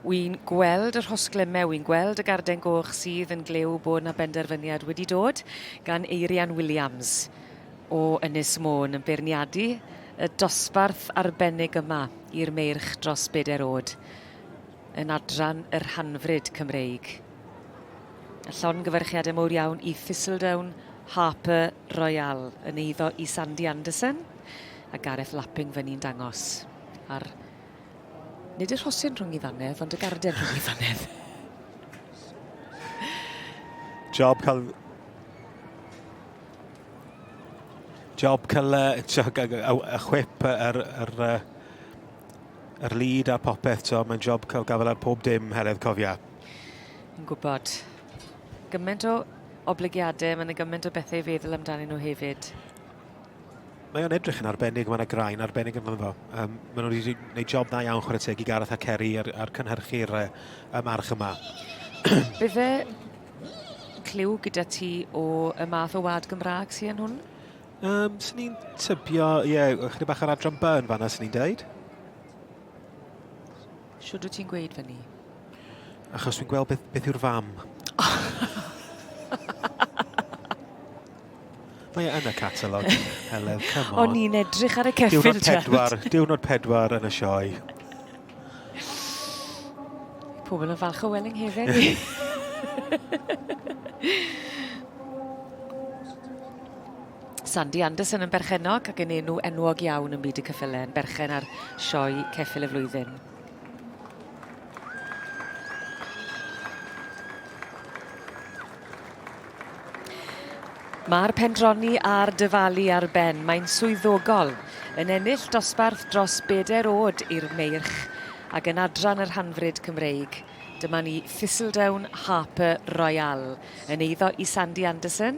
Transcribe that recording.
Wi'n gweld yr hosglymau, wi'n gweld y garden goch sydd yn glyw bod yna benderfyniad wedi dod gan Eirian Williams o Ynys Môn yn beirniadu y dosbarth arbennig yma i'r meirch dros bedair oed yn adran yr hanfryd Cymreig. A llongyfarchiadau mowr iawn i Thistledown, Harper, Royal yn eiddo i Sandy Anderson a Gareth Lapping fe ni'n dangos ar nid y rhosyn rhwng i ddannedd ond y garden rhwng i ddannedd. Job cael job cael y chwip yr, yr, yr lead a popeth, so mae'n job cael gafael ar pob dim, Heledd, cofia. Yn gwybod. Gyment o oblygiade, mae 'na gyment o bethe i feddwl amdanyn nhw hefyd. Mae o'n edrych yn arbennig, mae yna graen arbennig yn fan fo. Um, mae nhw wedi gwneud job dda iawn chwarae teg i Gareth a Ceri ar, ar cynhyrchu'r uh, y march yma. Bydde clyw gyda ti o y math o wad Gymraeg sy'n hwn? Um, sy'n ni'n tybio, ie, yeah, chyda bach ar adran B yn fanna sy'n ni'n deud. Shwd wyt ti'n gweud fyny? Achos dwi'n gweld beth, beth yw'r fam. Mae e yn y catalog. Hello, come on. O'n i'n edrych ar y ceffil, Diwrnod pedwar, diwrnod pedwar yn y sioe. Pobl yn falch o Welling Haven. Sandy Anderson yn berchennog ac yn enw enwog iawn ym myd y ceffylau yn berchen ar sioe Ceffyl y Flwyddyn. Mae'r pendroni a'r dyfalu ar ben, mae'n swyddogol, yn ennill dosbarth dros bedair oed i'r meirch ac yn adran yr hanfryd Cymreig. Dyma ni Thistledown Harper Royale yn eiddo i Sandy Anderson